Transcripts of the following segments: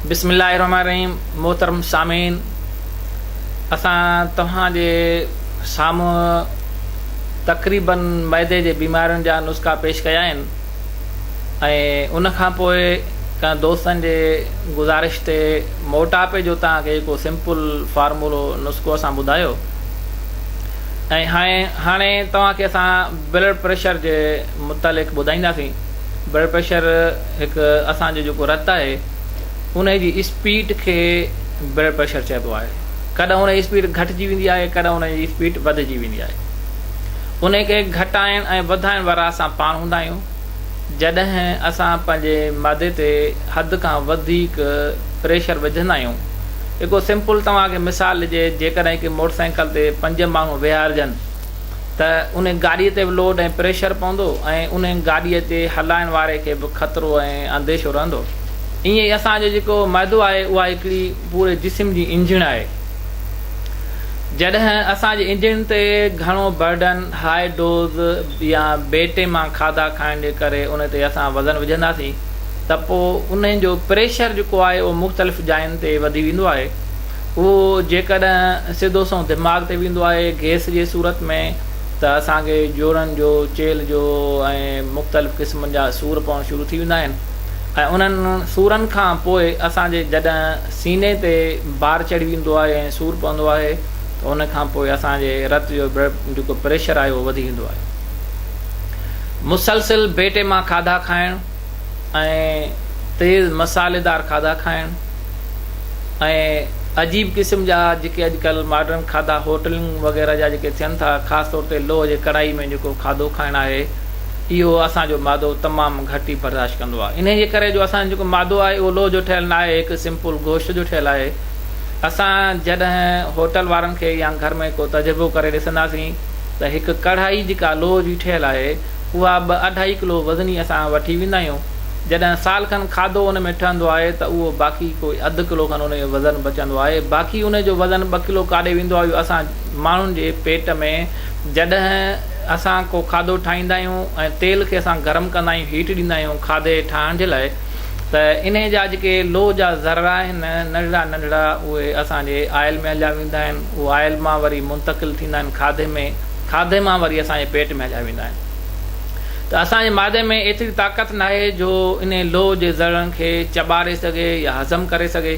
بسم الله الرحمن الرحيم محترم سامعين اسان توهان جي سامهون تقريبا معدي جي بيمارين جا نسخا پيش ڪيا آهن ۽ ان کان پوء ڪن دوستن جي گذارش تي موٽاپي جو توهان کي هڪ سمپل فارمولو نسخو اسان ٻڌايو ۽ هاڻي هاڻي توهان کي اسان بلڊ پريشر جي متعلق ٻڌائينداسين بلڊ پريشر هڪ اسان جو جيڪو رت آهي ان جي اسپيڊ کي بلڊ پريشر چئبو آهي ڪڏهن ان جي اسپيڊ گهٽجي ويندي آهي ڪڏهن ان جي اسپيڊ وڌجي ويندي آهي ان کي گهٽائڻ ۽ وڌائڻ وارا اسان پاڻ هوندا آهيون جڏهن اسان پنهنجي معدي تي حد کان وڌيڪ پريشر وجهندا آهيون هڪ سمپل توهان کي مثال ڏجي جيڪڏهن هڪ موٽر سائيڪل تي پنج ماڻهو ويهارجن ته ان گاڏي تي به لوڊ ۽ پريشر پوندو ۽ ان گاڏي تي هلائڻ واري کي به خطرو ۽ انديشو رهندو ائين ئي اسان جو جيڪو معدو آهي اها هڪڙي پوري جسم جي انجڻ آهي جڏهن اسان جي انجڻ تي گهڻو برڊن هاء ڊوز يا بي ٽيما کاڌا کائڻ جي ڪري ان تي اسان وزن وجهنداسين ته پوء ان جو پريشر جيڪو آهي اهو مختلف جاين تي وڌي ويندو آهي اهو جيڪڏهن سڌو سنئون دماغ تي ويندو آهي گيس جي صورت ۾ ته اسان کي جوڙن جو چيلھ جو ۽ مختلف قسمن جا سور پوڻ شروع ٿي ويندا آهن ۽ انهن سورن کان پوء اسان جي جڏهن سيني تي بار چڙهي ويندو آهي ۽ سور پوندو آهي ته ان کان پوء اسان جي رت جو جيڪو پريشر آهي اهو وڌي ويندو آهي مسلسل بيٽي مان کاڌا کائڻ ۽ تيز مساليدار کاڌا کائڻ ۽ عجيب قسم جا جيڪي اڄڪلھ ماڊرن کاڌا هوٽلنگ وغيره جا جيڪي ٿين ٿا خاص طور تي لوهه جي ڪڙائي ۾ جيڪو کاڌو کائڻ آهي اهو اسان جو معدو تمام گهٽ ئي برداشت ڪندو آهي انهي جي ڪري جو اسان جو جيڪو معدو آهي اهو لوهه جو ٺهيل ناهي هڪ سمپل گوشت جو ٺهيل آهي اسان جڏهن هوٽل وارن کي يا گهر ۾ ڪو تجربو ڪري ڏسنداسين ته هڪ ڪڙهائي جيڪا لوهه جي ٺهيل آهي اها ٻه اڍائي ڪلو وزني اسان وٺي ويندا آهيون جڏهن سال کن کاڌو ان ۾ ٺهندو آهي ته اهو باقي ڪوئي اڌ ڪلو کن ان جو وزن بچندو آهي باقي ان جو وزن ٻه ڪلو ڪاڏي ويندو آهي اهو اسان ماڻهن جي پيٽ ۾ جڏهن اسان ڪو کاڌو ٺاهيندا آهيون ۽ تيل کي اسان گرم ڪندا آهيون هيٽ ڏيندا آهيون کاڌي ٺاهڻ جي لاء ته انهيء جا جيڪي لوهه جا ذرا آهن، ننڍڙا ننڍڙا، اهي اسان جي آئل ۾ هليا ويندا آهن. اهي آئل مان وري منتقل ٿيندا آهن کاڌي ۾. کاڌي مان وري اسان جي پيٽ ۾ هليا ويندا آهن. ته اسان جي معدي ۾ ايتري طاقت ناهي جو انهيء لوهه جي ذرڙن کي چٻاڙي سگهي يا هضم ڪري سگهي.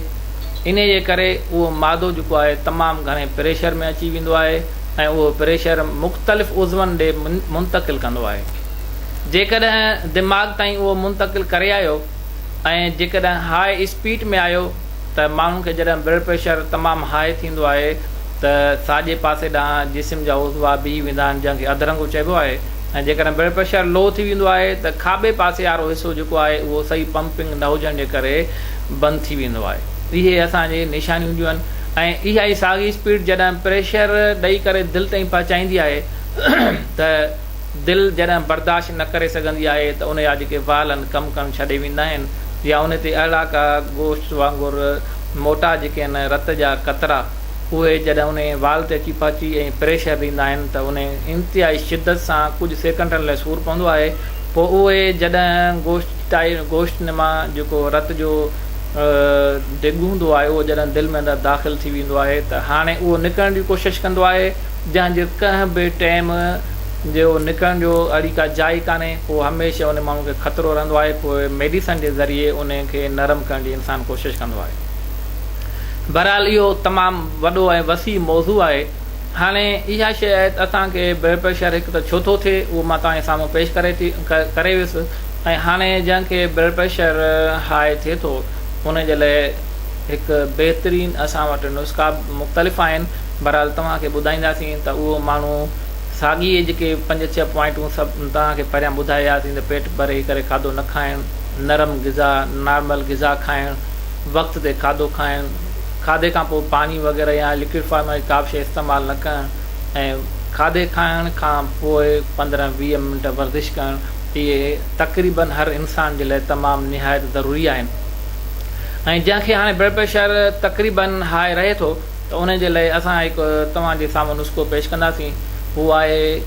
انهيء جي ڪري اهو معدو جيڪو آهي تمام گهڻي پريشر ۾ اچي ويندو آهي ۽ اهو پريشر مختلف عضون ڏي منتقل ڪندو آهي. جيڪڏهن دماغ تائين اهو منتقل ڪري آيو ۽ جيڪڏهن هاء اسپيٽ ۾ آيو ته ماڻهن کي جڏهن بلڊ پريشر تمام هاء ٿيندو آهي ته ساڄي پاسي ڏانهن جسم جا عضوا بيهي ويندا آهن جنهن کي اڌرنگو چئبو آهي ۽ جيڪڏهن بلڊ پريشر لو ٿي ويندو آهي ته کاٻي پاسي وارو حصو جيڪو آهي اهو صحيح پمپنگ نه هجڻ جي ڪري بند ٿي ويندو آهي اهي اسان جي نشانيون هونديون آهن ۽ اها ئي ساڳي اسپيٽ جڏهن پريشر ڏئي ڪري دل تائين پهچائيندي آهي ته دل جڏهن برداشت نه ڪري سگهندي آهي ته ان جا جيڪي وال آهن ڪم ڪرڻ ڇڏي ويندا آهن يا ان تي اهڙا ڪا گوشت وانگر موٽا جيڪي آهن رت جا قطرا اهي جڏهن انهي وال تي اچي پهچي ۽ پريشر ڏيندا آهن ته انهي انتهائي شدت سان ڪجهه سيڪنڊن لاء سور پوندو آهي پوء اهي جڏهن گوشت ٽائي گوشت نما جيڪو رت جو ڊگ هوندو آهي اهو جڏهن دل ۾ اندر داخل ٿي ويندو آهي ته هاڻي اهو نڪرڻ جي ڪوشش ڪندو آهي جنهن جو ڪنهن به ٽيم جو نڪرڻ جو اهڙي ڪا جاء ئي ڪانهي، پوء هميشه ان ماڻهو کي خطرو رهندو آهي، پوء ميڊيسن جي ذريعي ان کي نرم ڪرڻ جي انسان ڪوشش ڪندو آهي. بهرحال اهو تمام وڏو ۽ وسيع موضوع آهي. هاڻي اها شيء آهي ته اسان کي بلڊ پريشر هڪ ته ڇو ٿو ٿئي، اهو مان توهان جي سامهون پيش ڪري ٿي ڪري ويس ۽ هاڻي جنهن کي بلڊ پريشر هاء ٿئي ٿو، ان جي لاء هڪ بهترين اسان وٽ نسخا مختلف آهن، بھرحال توھان کي ٻڌائينداسين ته اھو ماڻھو ساڳي جيڪي پنج ڇهه پوائنٽون سڀ توھان کي پھريان ٻڌائي آياسين ته پيٽ ڀري ڪري کاڌو نه کائڻ، نرم غذا، نارمل غذا کائڻ، وقت تي کاڌو کائڻ، کاڌي کان پوء پاڻي وغيره يا لڪوڊ فارم واري ڪابه شيء استعمال نه ڪرڻ ۽ کاڌي کائڻ کان پوء پندرهن ويهه منٽ ورزش ڪرڻ اھي تقريبن ھر انسان جي لاء تمام نھايت ضروري آھن ۽ جنھن کي ھاڻي بلڊ پريشر تقريبن ھاء رھي ٿو. ته ان جي لئه اسان هڪ توهان جي سامهون نسخو پيش ڪنداسين. هو آهي،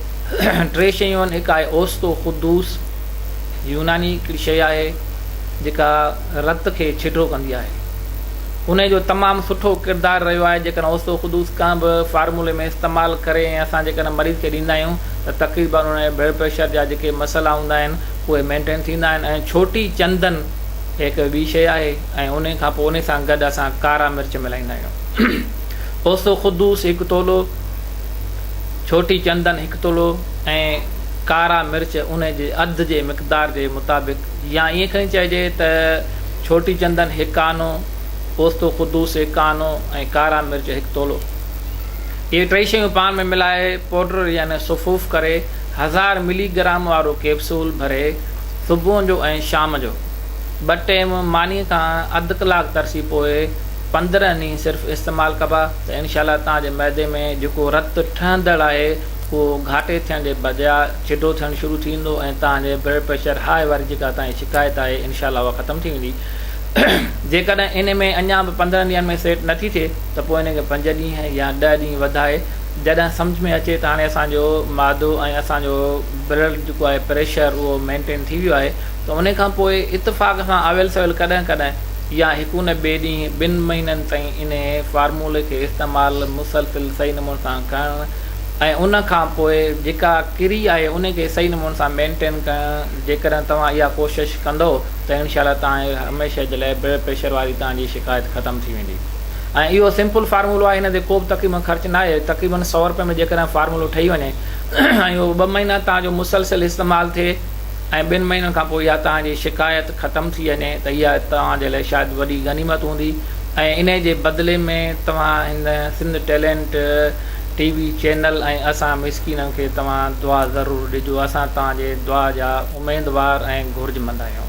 ٽي شيون، هڪ آهي اوستو خدوس، يوناني هڪڙي شيء آهي، جيڪا رت کي ڇڊو ڪندي آهي. انهيء جو تمام سٺو ڪردار رهيو آهي. جيڪڏهن اوستو خدوس ڪنهن به فارمولي ۾ استعمال ڪري ۽ اسان جيڪڏهن مريض کي ڏيندا آهيون ته تقريبن انهيء بلڊ پريشر جا جيڪي مسئلا هوندا آهن، اهي مينٽين ٿيندا آهن ۽ ڇوٽي چندن هڪ ٻي شيء آهي ۽ انهي کان پوء انهي سان گڏ اسان ڪارا مرچ ملائيندا آهيون. اوستو خدوس هڪ تولو، ڇوٽي چندن هڪ تولو ۽ ڪارا مرچ انهي جي اڌ جي مقدار جي مطابق يا ائين کڻي چئجي ته ڇوٽي چندن هڪ آنو، اوستو خدوس هڪ آنو ۽ ڪارا مرچ هڪ تولو. اهي ٽئي شيون پاڻ ۾ ملائي پوڊر يعني صفوف ڪري هزار ملي گرام وارو ڪيپسول ڀري، صبح جو ۽ شام جو ٻه ٽيم مانيء کان اڌ ڪلاڪ ترسي پوء پندرهن ڏينهن صرف استعمال ڪبا ته انشاء الله توهان جي معدي ۾ جيڪو رت ٺهندڙ آهي اهو گهاٽي ٿيڻ جي بجاء جڍو ٿيڻ شروع ٿي ويندو ۽ توهان جي بلڊ پريشر هاء واري جيڪا توهان جي شڪايت آهي انشاء الله اها ختم ٿي ويندي جيڪڏهن ان ۾ اڃا به پندرهن ڏينهن ۾ سيٽ نه ٿي ٿئي ته پوء ان کي پنج ڏينهن يا ڏهه ڏينهن وڌائي جڏهن سمجهه ۾ اچي ته هاڻي اسان جو معدو ۽ اسان جو بلڊ جيڪو آهي پريشر اهو مينٽين ٿي ويو آهي ته انهي کان پوء اتفاق سان آويل سويل ڪڏهن ڪڏهن يا هڪ نه ٻئي ڏينهن ٻن مهينن تائين انهي فارمولي کي استعمال مسلسل صحيح نموني سان ڪرڻ ۽ ان کان پوء جيڪا ڪري آهي انهي کي صحيح نموني سان مينٽين ڪرڻ جيڪڏهن توهان اها ڪوشش ڪندو ته انشاء الله توهان جي هميشه جي لاء بلڊ پريشر واري توهان جي شڪايت ختم ٿي ويندي ۽ اهو سمپل فارمولو آهي هن تي ڪوبه تقريبن خرچ ناهي تقريبن سؤ رپين ۾ جيڪڏهن فارمولو ٺهي وڃي ۽ اهو ٻه مهينا توهان جو مسلسل استعمال ٿئي ۽ ٻن مهينن کان پوء اها توهان جي شڪايت ختم ٿي وڃي ته اها توهان جي لاء شايد وڏي غنيمت هوندي ۽ انهي جي بدلي ۾ توهان هن Sindh talent T V channel ۽ اسان مسڪينن کي توهان دعا ضرور ڏجو اسان توهان جي دعا جا اميدوار ۽ گهرجمند آهيون.